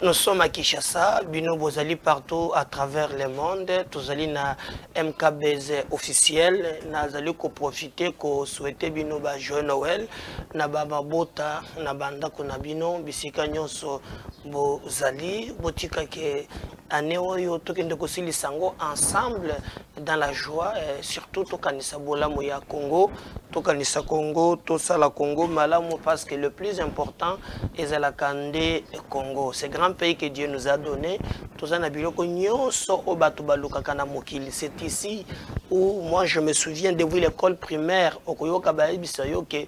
Nous sommes à Kinshasa, Bino Bozali partout à travers le monde. Tozali na MKBZ officiel. Nazali ko profiter ko souhaiter Bino ba joyeux Noël na ba mabota na banda kuna Bino bisika nyonso bozali botika ke année oyo tokende kosilisa yango ensemble dans la joie eh, surtout tokanisa bolamu ya congo tokanisa congo tosala congo malamu parce que le plus important ezalaka nde congo ce grand pays que dieu nous a donné toza na biloko nyonso oyo bato balukaka na mokili c'est ici où moi je me souviens depuis l'école primaire okoyoka bayebisa yo ke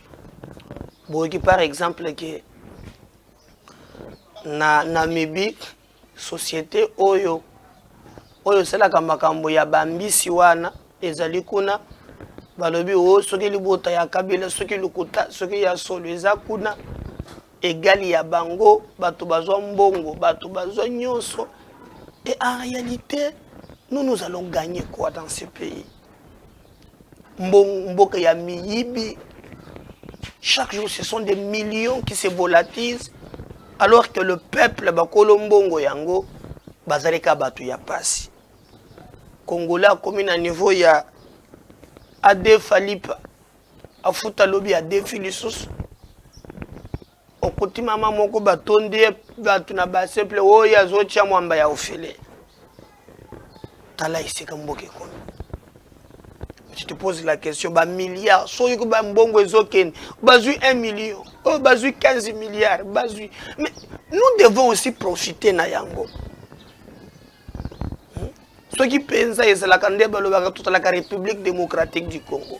boyoki par exemple ke na namibie société oyo oyo esalaka makambo ya bambisi wana ezali kuna balobi o oh, soki libota ya kabila soki lokuta soki ya solo eza kuna egali ya bango bato bazwa mbongo bato bazwa nyonso et en réalité nous nous allons gagner quoi dans ce pays mboka ya miyibi chaque jour ce sont des millions qui se volatilise alors que le peuple bakolo mbongo yango bazali kaka bato ya mpasi congolais akomi na niveau ya adefa lipa afuta lobi adefi lisusu Okuti mama moko batondi ye bato na base ple oyo azotya mwamba ya ofele. Tala esika mboka ekomi. Tu te poses la question, ba milliards, soki ko ba mbongo ezokende, bazui 1 million, oh bazui 15 milliards, bazui. Mais nous devons aussi profiter na yango. Hmm? Soki penza ezalaka nde balobaka totalaka République démocratique du Congo.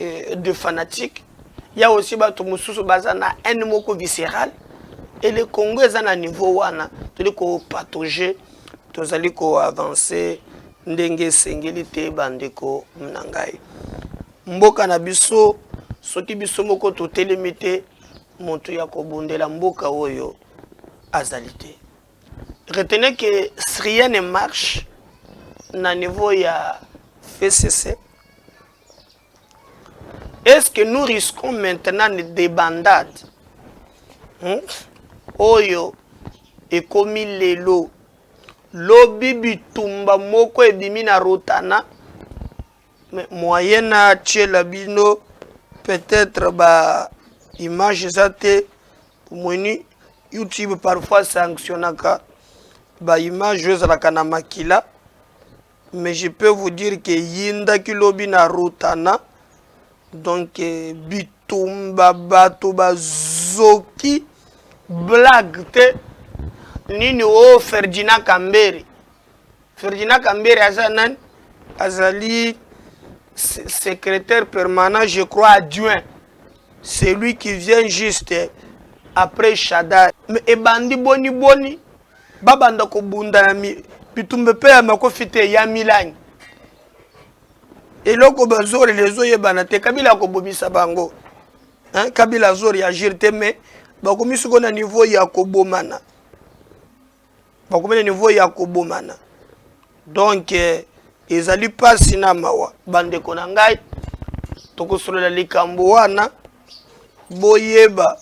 euh, de fanatique ya aussi bato mosusu baza na haine moko viscérale et le congo eza na niveau wana tozali kopatoge tozali koavanse ndenge esengeli te bandeko na ngai mboka na biso soki biso moko totelemi te moto ya kobundela mboka oyo azali te retenez que rien ne marche na niveau ya fcc Est ce que nous risquons maintenant une débandade hmm? oyo ekomi lelo lobi bitumba moko ebimi na rotana moyen atyela bino peut-être ba image eza te omoni youtube parfois sanctionnaka ba image oyo ezalaka na makila Mais je peux vous dire que yindaki lobi na Rotana donc euh, bitumba bato bazoki blague te nini o ferdina kambere ferdina kambere aza nani azali secrétaire permanent je crois adjoint celui qui vient juste après shadar ebandi boni boni babanda kobunda na bitumbe mpe ya makofi te ya milangi eloko bazolela ezoyebana te kabila akobomisa bango hein? kabila azori agir te mais bakomi siko na niveau ya kobomana bakomi na niveau ya kobomana donc eh, ezali mpasi na mawa bandeko na ngai tokosolola likambo wana boyeba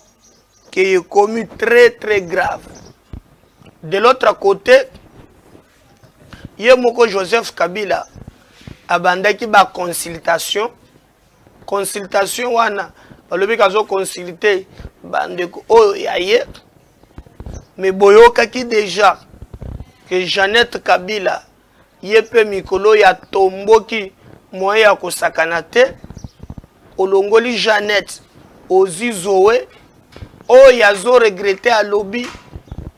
que ekomi très très grave de l'autre côté ye moko joseph kabila abandaki ba consultation consultation wana balobi kazo consulte bandeko oyo ya ye mais boyokaki déjà que jeannette kabila ye mpe mikolo oyo atomboki moyen ya kosakana te olongoli jeannette ozwi zoe oyo azo regrete alobi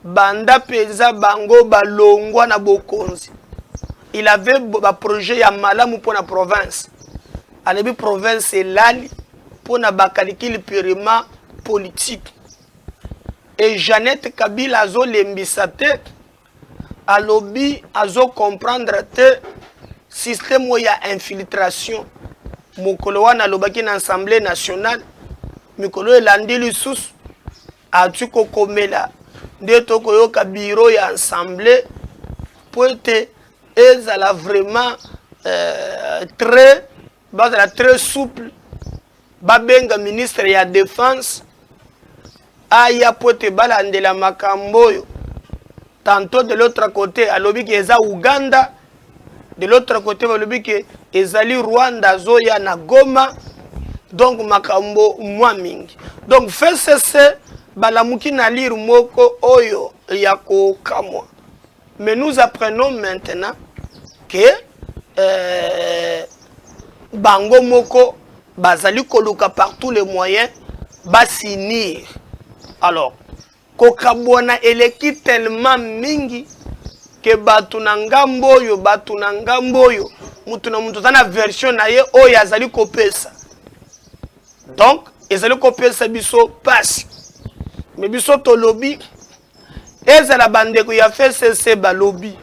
banda mpenza bango balongwa na bokonzi il avait baprojet ya malamu mpo na province alobi province elali mpo na bakalikili purement politique e jeannette kabila azolembisa te alobi azo comprendre te système oyo ya infiltration mokolo wana alobaki na assemblée nationale mikolo oyo elandi lisusu ati kokomela nde tokoyoka biro ya assemblée mpo ete ezala vraiment euh, très Bazala très souple, babenga ministre ya defense aya mpo ete balandela makambo oyo. Tantôt de l'autre côté alobi ke eza Ouganda, de l'autre côté balobi ke ezali Rwanda azoya na Goma, donc makambo mwa mingi. Donc FCC balamuki na lire moko oyo ya kokamwa. Mais nous apprenons maintenant que euh, bango moko bazali koluka par tous les moyens basinir. Alors, kokabwana eleki tellement mingi ke bato na ngambo oyo bato na ngambo oyo moto na moto aza na version na ye oyo azali kopesa donc ezali kopesa biso mpasi me biso tolobi ezala bandeko ya fcc balobi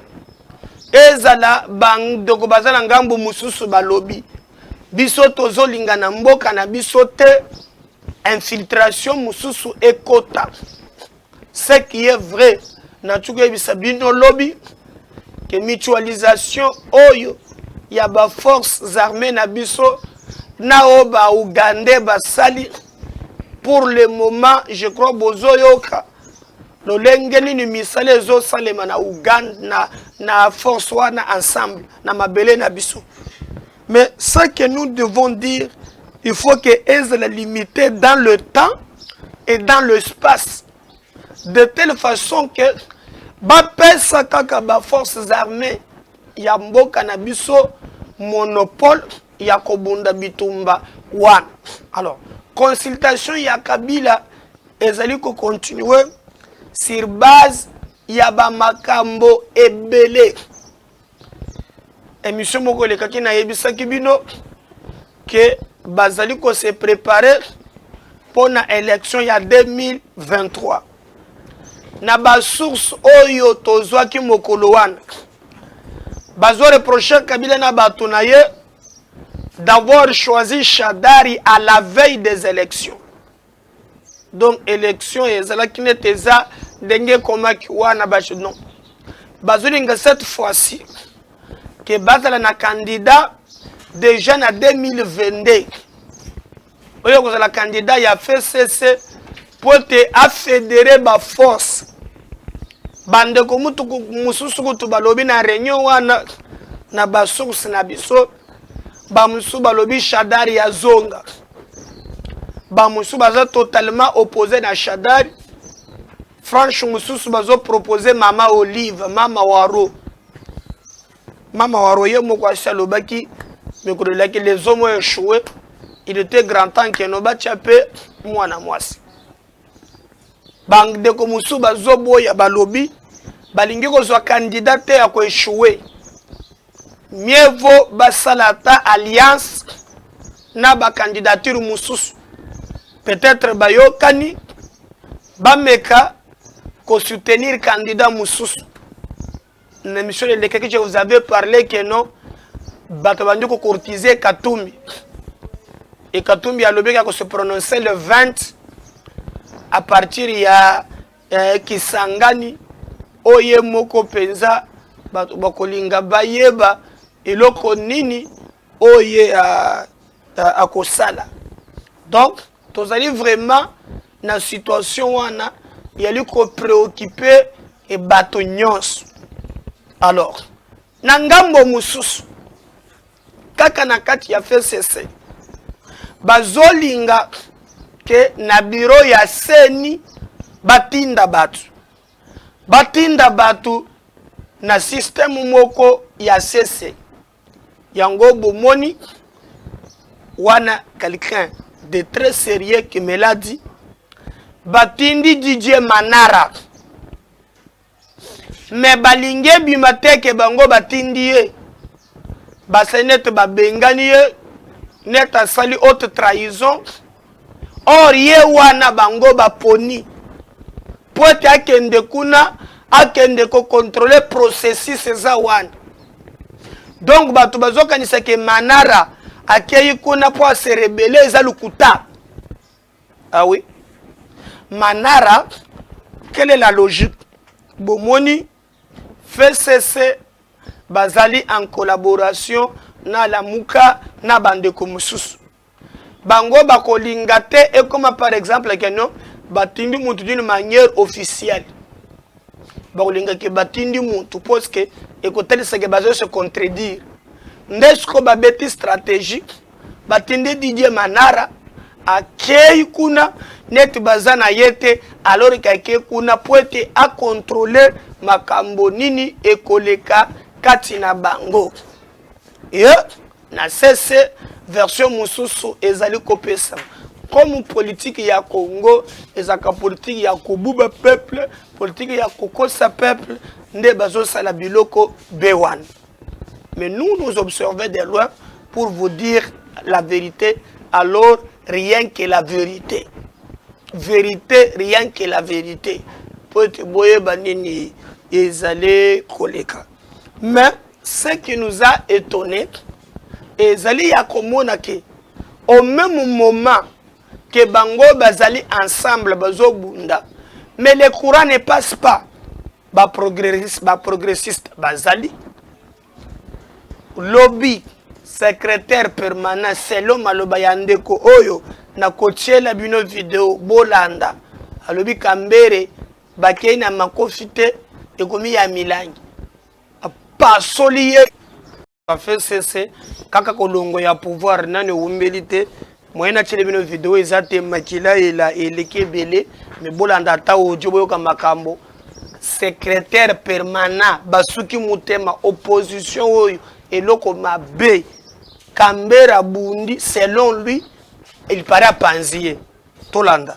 ezala bandeko baza na ngambo mosusu balobi biso tozolinga na mboka na biso te infiltration mosusu ekota ce qui est vrai nati koyebisa bino lobi ke mutualisation oyo ya baforces armées na biso na oyo baougandais basali pour le moment je crois bozoyoka lolenge nini misala ezosalema na uganda na, na force wana ensemble na mabele na biso mais ce que nous devons dire il faut que ezala limité dans le temps et dans l'espace de telle façon que bapesa kaka baforces armées ya mboka na biso monopole ya kobunda bitumba wana. Alors, consultation ya Kabila ezali ko continuer sur base ya ba makambo ebele. Emission moko elekaki nayebisaki bino ke bazali ko se preparer mpo na election ya 2023. na ba source oyo tozwaki mokolo wana bazo reprocher Kabila na bato na ye d'avoir choisi Shadari à la veille des élections donc élection ezalaki nete eza ndenge ekomaki wana bato non bazolinga cette fois-ci ke bazala na candidat déjà na 2022 oyo kozala candidat ya fcc mpo ete afedere baforce bandeko mutu mosusu kutu balobi na réunion wana na basource na biso bamosusu balobi shadari ya zonga bamosusu baza totalement oppose na shadari franche mosusu bazopropose mama olive mama waro Mama wa roye moko asi alobaki mikolo elaki les hommes ont échoué il était grand temps que no batya mpe mwana mwasi bandeko mosusu bazoboya balobi balingi kozwa kandida te ya koechoue mieux vaut basala ata alliance na bakandidature mosusu peut-être bayokani bameka kosoutenir kandida mosusu na emission elekaki je vous avez parlé que non bato bandi kocourtise katumbi e katumbi alobeki ya kose prononce le 20 à partir ya eh, kisangani oyo ye moko mpenza bato bakolinga bayeba eloko nini oyo ye akosala donc tozali vraiment na situation wana yali kopreocupe e bato nyonso alors na ngambo mosusu kaka na kati ya fcc bazolinga ke na biro ya seni batinda bato batinda bato na systeme moko ya sese Yango bomoni wana quelqu'un de très sérieux qui me l'a dit batindi Didier Manara me balingi ebima te ke bango batindi ye basali nete babengani ye nete asali haute trahison Or ye wana bango baponi mpo ete akende kuna akende kokontrole processus eza wana donc bato bazokanisa ke manara akei kuna mpo aserebele eza lokuta awi ah manara quelle est la logique bomoni fcc bazali en collaboration na lamuka na bandeko mosusu bango bakolinga te ekoma par exemple ke no batindi mutu d'une manière officielle bakolinga ke batindi mutu parce que ekotalisa ke bazo se contredire nde siko babeti stratégie batindi Didier Manara akei kuna neti baza na ye te alors ke akei kuna po ete akontrole makambo nini ekoleka kati na bango yeah. na sese version mosusu ezali kopesa comme politiki ya congo ezalaka politiki ya kobuba peuple politiki ya kokosa peuple nde bazosala biloko be wana mais nous nous observons de loin pour vous dire la vérité alors rien que la vérité vérité rien que la vérité mpo ete boyeba nini ezali koleka mais ce qui nous a étonné ezali ya komona ke au même moment que bango bazali ensemble bazobunda mais le courant ne passe pas baprogressiste ba progressiste bazali lobi secrétaire permanent selon maloba ya ndeko oyo nakotiela bino video bolanda alobi kambere bakei na makofi te ekomi ya milangi apasoli ye bafesese kaka kolongo ya pouvoir nani ewumbeli te moye natyeli bino video eza te makila ela eleki ebele me bolanda ata audio boyoka makambo secrétaire permanent basuki motema opposition oyo eloko mabe kambera bundi selon lui il paraît apanzi ye tolanda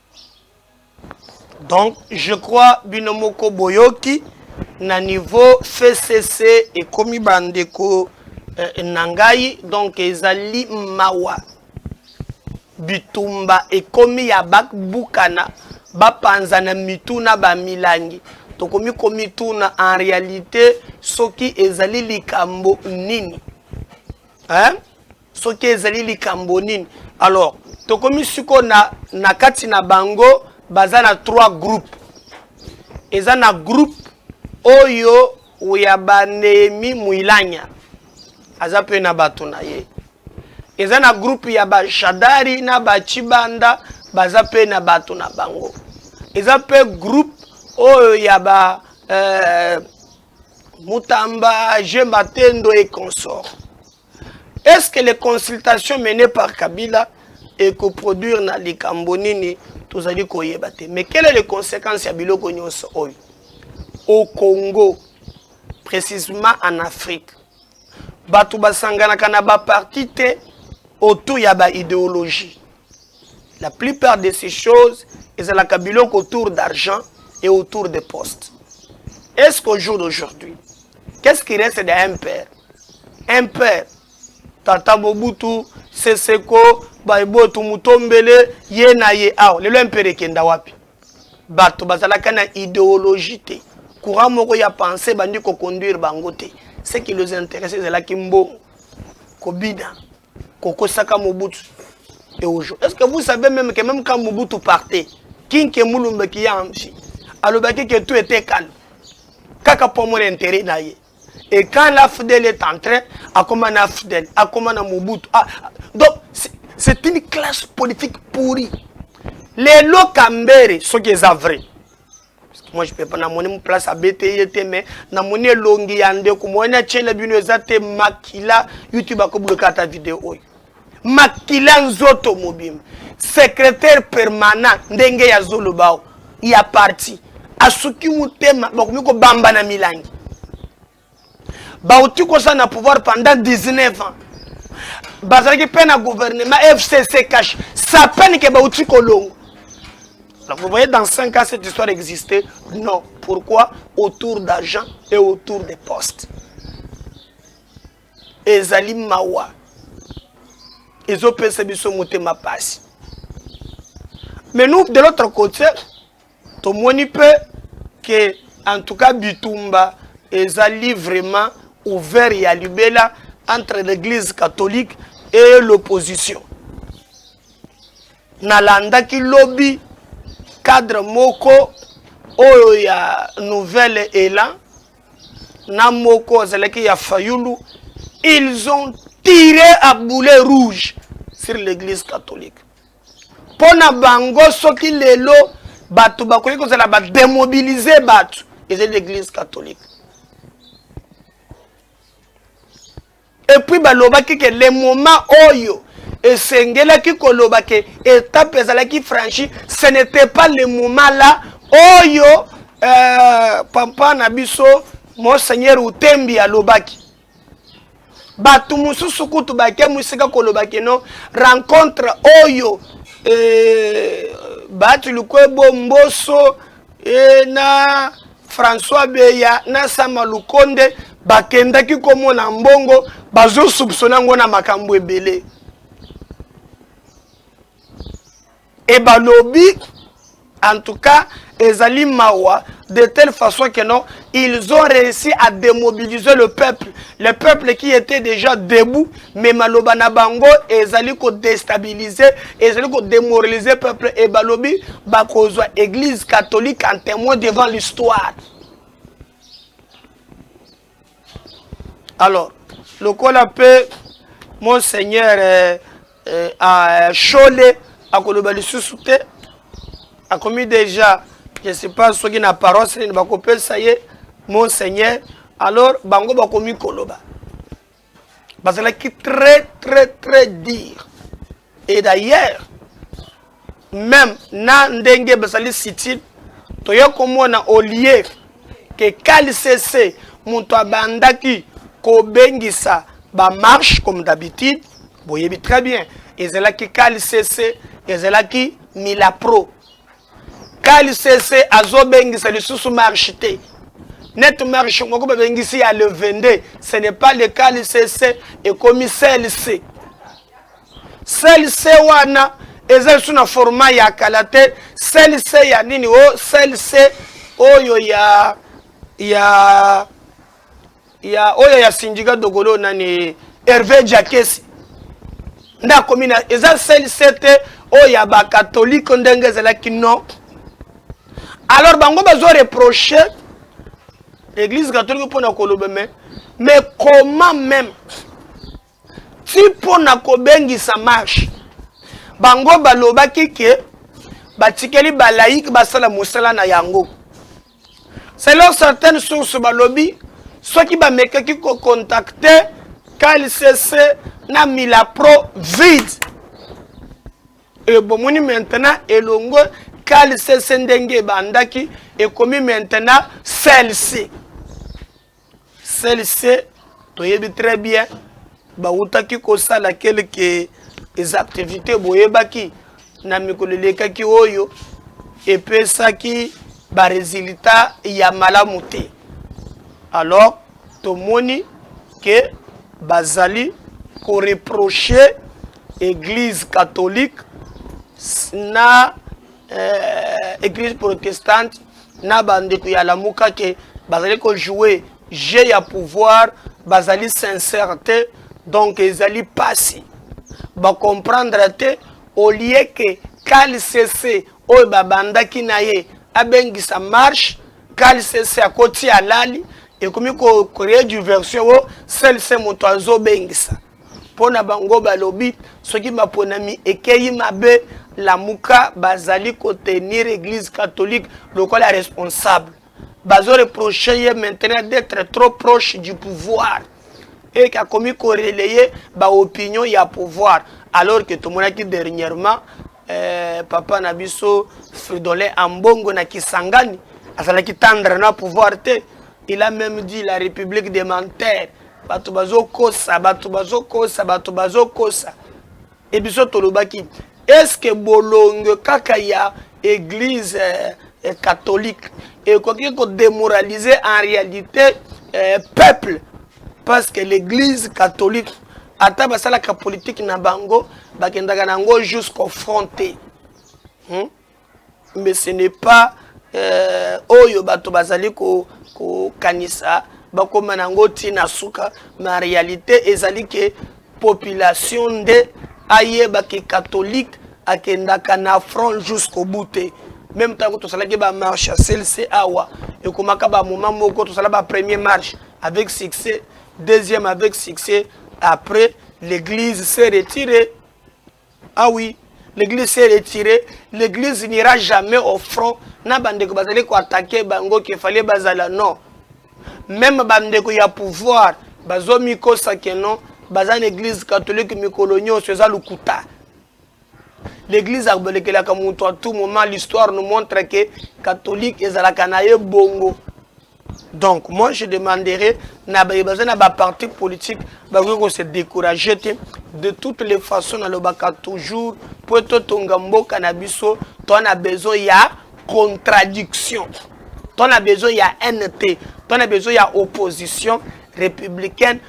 donc je crois bino moko boyoki na niveau fcc ekomi bandeko eh, na ngai donc ezali mawa bitumba ekomi ya babukana bapanza na mitu na bamilangi tokomi komituna en réalité soki ezali likambo nini hein? soki ezali likambo nini alors tokomi siko na, na kati na bango baza na trois groupe eza na groupe oyo ya banehemi muilanya aza mpe na bato na ye eza na groupe ya bashadari na bachibanda baza mpe na bato na bango eza mpe groupe oyo ya ba euh, mutamba je matendo et consort Est ce que les consultations menées par Kabila et que produire na likambo nini tozali koyeba te mais quelle est les conséquences ya biloko nyonso oyo au Congo précisément en Afrique bato basanganaka na baparti te autour ya baidéologie la plupart de ces choses ezalaka biloko autour d'argent et autour de poste est ce qu'au jour d'aujourd'hui qu'est ce qui reste de un père un père tata mobutu seseko baibotu mutombele ye na ye awa lelo impere ekenda wapi bato bazalaka na ideologie te courant moko ya pensée bandi koconduire bango te ce qui les intéresse ezalaki mbongo kobina kokosaka mobutu et aujourd'hui est ce que vous savez même que même quand mobutu partait kinke mulumbe kiyamshi alobaki que tout était calme kaka mpo amona intérêt na ye et quand la fidèle est entrée akoma na fidèle akoma na mobutu ah, ah, donc c'est une classe politique pourrie lelo kambere soki eza vrai moi je peux pas namoni mu place abete ye te mais namoni elongi ya ndeko moyeni atyela bino eza te makila youtube akobloke ata video oyo makila nzoto mobimba secrétaire permanent ndenge ya zolobao ya parti asuki motema bakomi kobamba na milangi bauti koza na pouvoir pendant 19 ans bazalaki mpe na gouvernement fcc cash sa peine ke bauti kolongo Alors vous voyez, dans 5 ans, cette histoire existait Non. Pourquoi Autour d'argent et autour des postes. ezali mawa ezopesa biso motema pasi mais nous de l'autre côté tomoni mpe ke en tout cas bitumba ezali vraiment ouvert ya libela entre l'église catholique et l'opposition nalandaki lobi cadre moko oyo ya nouvelle elan na moko azalaki ya fayulu ils ont tiré à boulet rouge sur l'église catholique mpo na bango soki lelo bato bakoki kozala bademobilize bato ezali l'église catholique epuis balobaki ke le moment oyo esengelaki koloba ke etape ezalaki franchi ce n'était pas le moment là oyo euh, papa na biso monseigneur utembi alobaki bato mosusu kutu bake mosika koloba keno rencontre oyo eh, bati lukwebo mboso eh, na françois beya na sama lukonde bakendaki komona mbongo bazosupsona yango na makambo ebele et balobi en tout cas ezali mawa de telle façon que non ils ont réussi à démobiliser le peuple le peuple qui était déjà debout mais maloba na bango ezali kodestabilise ezali kodémoralise peuple e balobi bakozwa église catholique en témoin devant l'histoire alors lokola mpe monseigneur euh, euh, euh, shole akoloba lisusu te akomi déjà je sais pas soki na paroisse nini bakopesa ye monseigneur alors bango bakomi koloba bazalaki très très très dire et d'ailleurs même na ndenge bazali sitile toya komona olie ke kalisese moto abandaki kobengisa bamarche comme d'habitude boyebi très bien ezalaki kalisese ezalaki milapro KLCC azo bengisa lisusu marche te. Net marche moko ba bengisi ya le 22, ce n'est pas le KLCC ekomi CLC. CLC wana eza lisusu na format ya kala te. CLC ya nini? O oh, CLC oyo ya ya ya oyo ya sindika dokolo nani herve jakesi nde akomi na eza sel sete oyo ya bakatolike ndenge ezalaki non alors bango bazo reproche église catholique mpona koloba me mais comment même ti mpo na kobengisa marche bango balobaki ke batikeli balaiki basala mosala na yango selon certaines sources balobi soki bamekaki kokontakte kalcc na milapro vide e, bomoni maintenant elongo kalcc ndenge ebandaki ekomi maintenant celc CLC toyebi très bien bawutaki kosala quelque les activités boyebaki na mikolo elekaki oyo epesaki baresultat ya malamu te alors tomoni ke bazali koreproche église catholique na euh, église protestante na ba ndeko ya lamuka ke bazali ko jouer jeu ya pouvoir bazali sincère te donc ezali pasi ba comprendre te au lieu que kalsese oyo babandaki na ye abengisa marche kalsese akoti alali ekomi ko créer diversion o selse moto azobengisa Mpo na bango balobi soki maponami ekeyi mabe, Lamuka bazali ko tenir eglise catholique lokola responsable. Bazo reprocher ye maintenant d'etre trop proche du pouvoir et akomi ko relayer ba opinions ya pouvoir alors que tomonaki dernièrement eh, papa na biso fridolin ambongo na kisangani azalaki tendre na pouvoir te il a même dit la république de menteur bato bazokosa bato bazokosa bato bazokosa e biso tolobaki eske bolongo kaka ya église eh, eh catholique ekoki kodémoraliser en réalité eh, peuple parce que l'église catholique ata basalaka politike na bango bakendaka na yango jusqu'au front te hmm? mais ce n'est pas euh, oyo bato bazali kokanisa bakoma na yango ti na suka ma réalité ezali ke population nde ayeba ke catholique akendaka na front jusqu'au bout te même ntango tosalaki bamarche ya clc awa ekomaka bamoma moko tosala bapremier marche avec succès Deuxième avec succès après l'église s'est retirée. Ah oui, l'église s'est retirée. L'église n'ira jamais au front. Na bandeko bazali ko attaquer bango qu'il fallait bazala non. Même bandeko ya pouvoir bazo mikosa que non baza na église catholique mikolo nyonso eza lokuta. L'eglise abelekelaka mutu à tout moment l'histoire nous montre que catholique ezalaka na ye bongo donc moi je demanderai na baye baza na ba parti politique bakoki ko se décourager te de toutes les façons nalobaka toujours mpo totonga mboka na biso to na besoin ya contradiction to na besoin ya haine te to na besoin ya opposition républicaine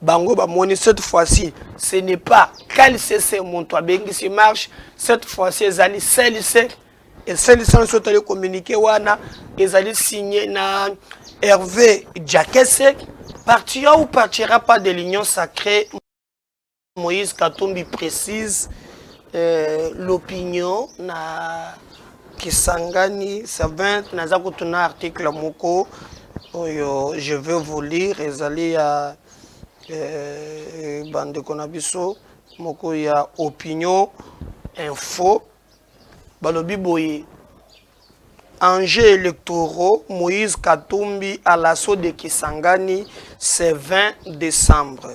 bango bamoni cette fois-ci ce n'est pas kalsese moto abengisi marche cette fois-ci ezali selise eselisa nso tali communiqué wana ezali signé na herve jakese partira ou partira pas de l'union sacrée moïse katumbi précise euh, l'opinion na Kisangani 7 naza kutu na article moko oyo je veux vous lire ezali ya euh, bandeko na biso moko ya opinion info balobi boye enjeux électoraux, Moïse Katumbi à l'assaut de Kisangani, c'est 20 décembre.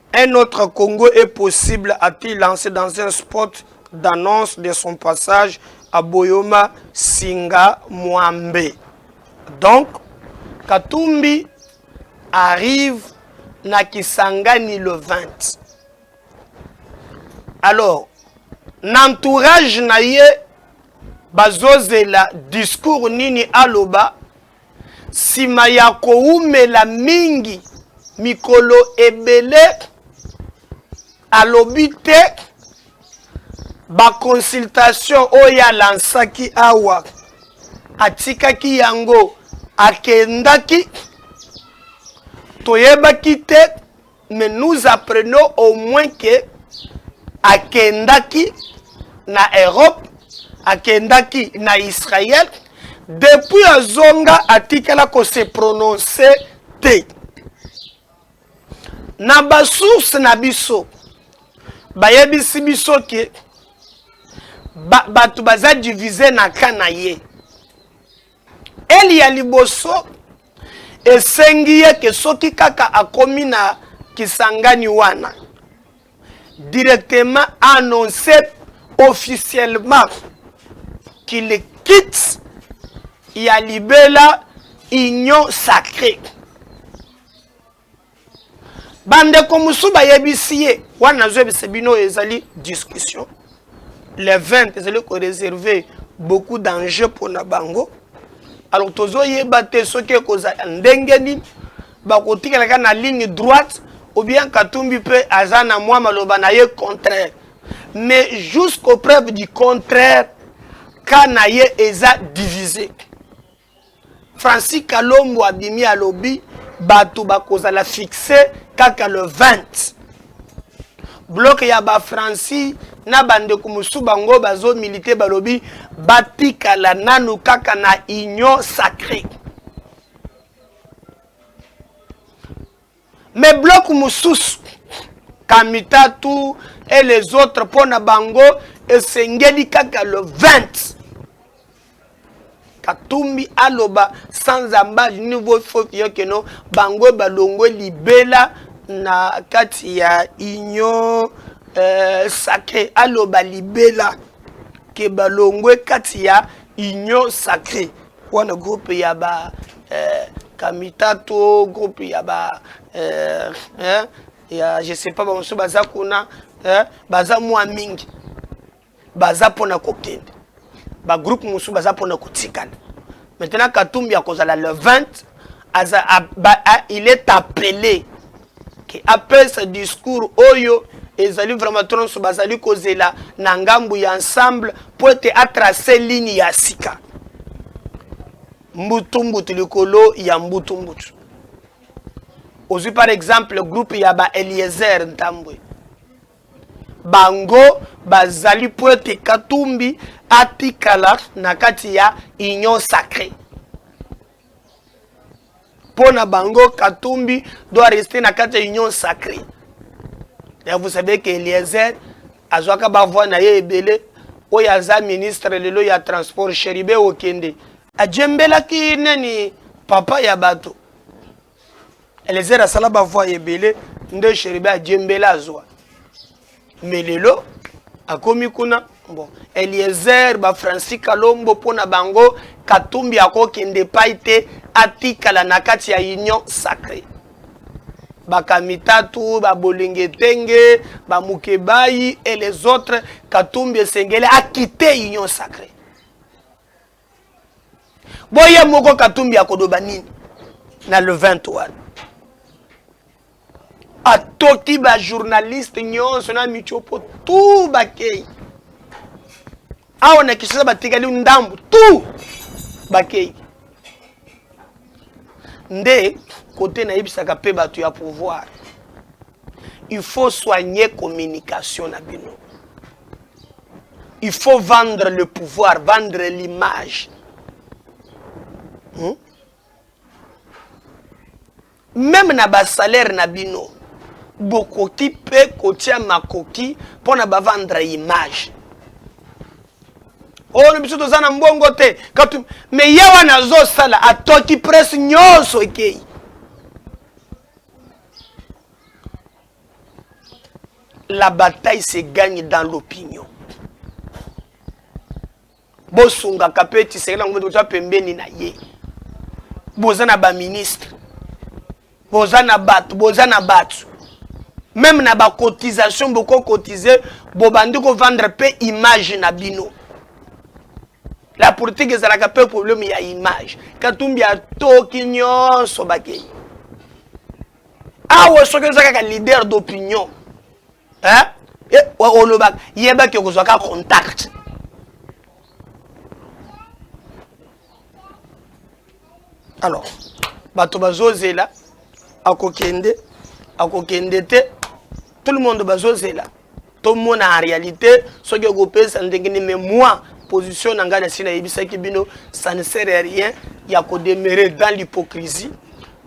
Un autre Congo est possible a-t-il lance dans un spot d'annonce de son passage à Boyoma Singa Mwambe. Donc, Katumbi arrive na Kisangani le 20. Alors, n'entourage na ye bazozela discours nini aloba Nsima ya koumela mingi mikolo ebele, alobi te ba consultation oyo alansaki awa atikaki yango akendaki toyebaki te mais nous apprenons au moins que akendaki na Europe akendaki na Israël depuis azonga atikala ko se prononcer te na ba source na biso bayebisi biso ke bato ba, baza divise na ka na ye Eli ya liboso esengi ye ke soki kaka akomi na Kisangani wana directement annoncer officiellement qu'il quitte ya libela union sacree. bandeko mosusu bayebisi ye wana nazoyebisa bino oyo ezali discussion le 20 ezali koreserve beaucoup d'enjeu mpo na bango alors tozoyeba te soki ekozala ndenge nini bakotikalaka na ligne droite ou bien katumbi mpe aza na mwa maloba na ye contraire mais jusqu'au preuve du contraire ka na ye eza divise Francis Kalombo abimi alobi bato bakozala fixe kaka le 20. Bloc ya ba Francis na bandeko mosusu bango bazo milite balobi batikala nanu kaka na union sacree. mais bloc mosusu kamitatu et les autres mpo na bango esengeli kaka le 20 katumbi aloba sans ambaje niveau fofiyo keno bango balongwe libela na kati ya union euh, sacré aloba libela ke balongwe kati ya union sacré wana groupe ya ba eh, kamitato groupe ya ba eh, eh, ya je sais pas bamosusu baza kuna eh, baza mwa mingi baza mpona kokende bagroupe mosusu baza mpona kotikana maintenant katumbi akozala le 20 aza a, ba, a, il est appelé ke apesa discours oyo ezali vraiment to nyonso bazali kozela na ngambo ya ensemble mpo ete atrace ligne ya sika mbutu mbutu likolo ya mbutu mbutu ozwi par exemple groupe ya ba eliezer ntambwe bango bazali mpo ete katumbi atikala na kati ya union sacrée mpo na bango katumbi doit rester na kati ya union sacré ya vous savez que eliezer azwaka bavoi na ye ebele oyo aza ministre lelo ya transport sheribe okende ajembelaki nani papa ya bato Eliezer asala ba voix ebele nde Cheribe ajembela azwa mais lelo akomi kuna bon Eliezer ba Francis Kalombo mpo na bango Katumbi akokende epai te atikala na kati ya union sacrée bakamitatu babolengetenge bamukebayi et les autres Katumbi esengeli akite union sacrée boye moko katumbi akoloba nini na le 20 wana atoki bajournaliste nyonso na mitiopo tu bakei awa na kinshasa batikali ndambu tu bakei nde kote nayebisaka mpe bato ya pouvoir il faut soigner communication na bino il faut vendre le pouvoir vendre l'image hmm? même na basalaire na bino bokoki mpe kotia makoki mpo na bavandre image oyo oh, biso toza na mbongo te katu me ye wana azosala atoki presse nyonso ekei La bataille se gagne dans l'opinion. bosungaka mpe tisekela yango toza pembeni na ye boza na baministre boza na bato boza na bato meme na bacotisation bokokotize bobandi kovandre mpe image na bino La politique ezalaka pe problème ya image. Katumbi atoki nyonso bakei. Awa soki oza kaka leader d'opinion, hein? Eh, olobaka yeba ke okozwa ka contact. alors bato bazozela akokende akokende te tout le monde bazozela tomona en réalité soki okopesa ndenge nini mais moi position na ngai nasi nayebisaki bino ça ne sert à rien ya kodemeure dans l'hypocrisie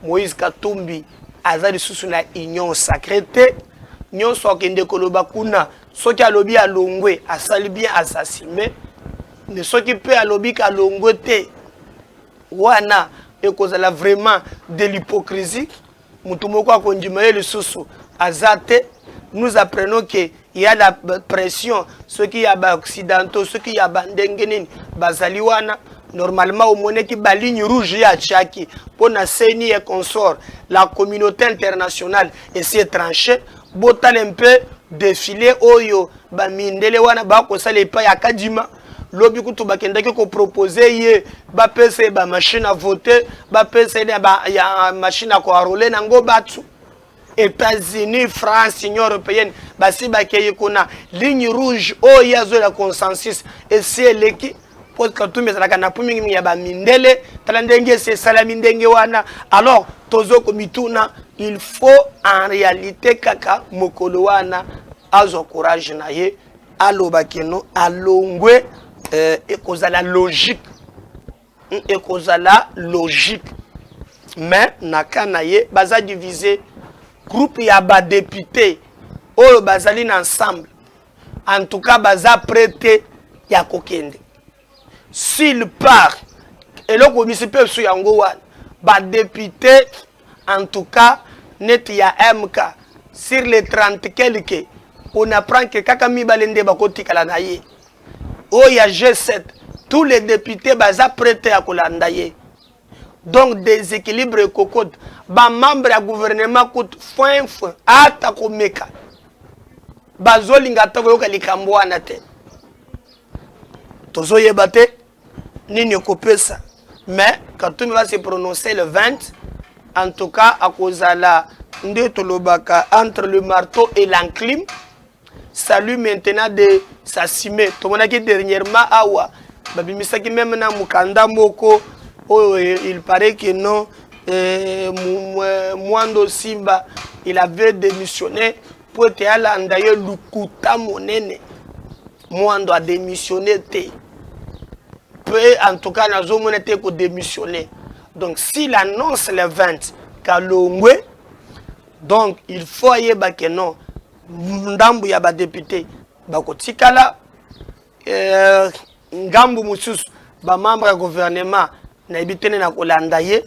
moïse katumbi aza lisusu na union sacré te nyonso akende koloba kuna soki alobi alongwe asali bien asasime me soki mpe alobi kalongwe te wana ekozala vraiment de l'hypocrisie motu moko akondima ye lisusu aza te nous apprenons que ya la pression soki ya baoccidentaux soki ya bandenge nini bazali wana normalement omoneki baligne rouge ye atiaki mpo na ceni e consort la communauté internationale esi etranche Botale mpe defile oyo ba mindele wana bakosala epai ya Kadima. Lobi kutu bakendaki ko proposer ye bapesa ye ba machine à voter, bapesa ye ba ya machine à koarole nango batu. États-Unis, France, Union européenne basi bakei kuna. Ligne rouge oyo ye azoyela consensus esi eleki. po katumbi ezalaka na pu mingimingi ya bamindele tala ndenge esi esalami ndenge wana alors tozo komituna il faut en réalité kaka mokolo wana azwa courage na ye aloba keno alongwe eh, ekozala logique hmm, ekozala logique mais na ka na ye baza divise groupe ya badepute oyo bazali na ensemble En tout cas baza près te ya kokende. S'il part eloko misi mpe biso yango wana ba député en tout cas neti ya MK sur les 30 quelque on apprend que kaka mibale nde bakotikala na ye oyo ya G7 tous les députés baza près te ya kolanda ye. donc desequilibre ekokota bamembre ya guvernema kutu fwenfwe ata komeka bazolinga ata koyoka likambo wana te tozoyeba te nini ekopesa mais katumbi va se prononcer le 20 en tout cas akozala nde tolobaka entre le marteau et l'enclume salut maintenant de sasime tomonaki dernièrement awa babimisaki meme na mokanda moko oyo eh, il paraît que non eh, eh, mwando simba il avait démissionné mpo ete alanda ye lukuta monene mwando adémissionné te mpe en tout cas nazomona te kodémissionné donc s'il annonce le 20 kalongwe donc il faut ayeba que non ndambu ya badepute bakotikala eh, ngambu mosusu bamembre ya gouvernement nayebi te nde nakolanda ye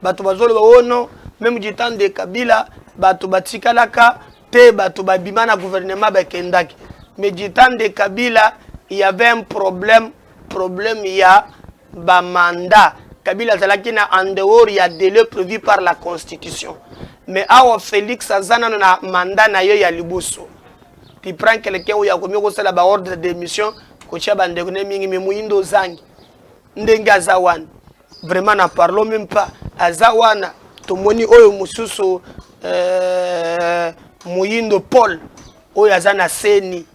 bato bazoloba ono oh meme du temps de kabila bato batikalaka te bato babima na gouvernement bakendaki mais du temps de kabila il y avait un problème problème ya ba mandat kabila azalaki na en dehors ya delai prévu par la constitution mais awa félix aza nano na mandat na ye ya liboso tu prends quelqu'un oyo akomi kosala ba ordre de mission kotya bandeko ne mingi me moyindo ozangi ndenge aza wana vraiment na parlons même pas aza wana tomoni oyo mosusu euh, moyindo paul oyo aza na seni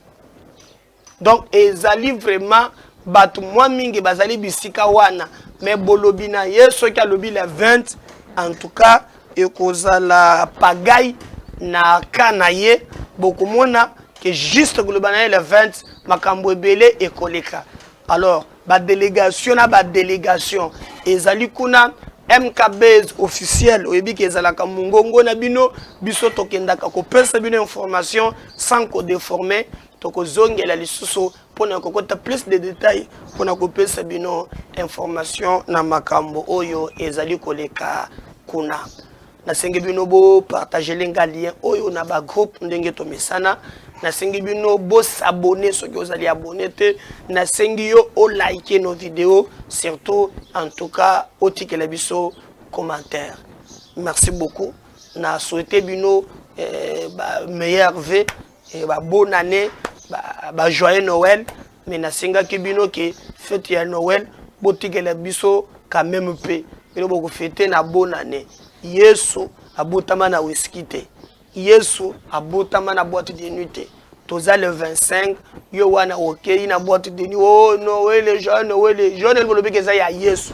donc ezali vraiment bato mwa mingi bazali bisika wana me bolobi na ye soki alobi la 20 en tout cas ekozala pagai na ka na ye bokomona ke juste koloba na ye la 20 makambo ebele ekoleka alors badelegation na badelegation ezali kuna mkbs officiel oyebi ke ezalaka mongongo na bino biso tokendaka kopesa bino information sans kodeforme Tokozongela lisusu mpo na kokota plus de detail mpo na kopesa bino information na makambo oyo ezali koleka kuna. Nasengi bino bopartagele nga lien oyo na bagroupe ndenge tomesana. Nasengi bino bosabone soki ozali abone te. Nasengi yo olike nos video surtout en tout cas otikela biso commentaire. Merci beaucoup. Na souhaite bino eh, ba meilleur vie eh, ba bonne année ba, ba joyeux noël mais nasengaki bino ke fete ya noël botikela biso quand même mpe bino bokofete na bonne année yesu abotama na wiski te yesu abotama na boite de nuit te toza le 25 yo wana okei na boite de nuit o oh, noele jeune noele jeune elibolobi ke eza ya yesu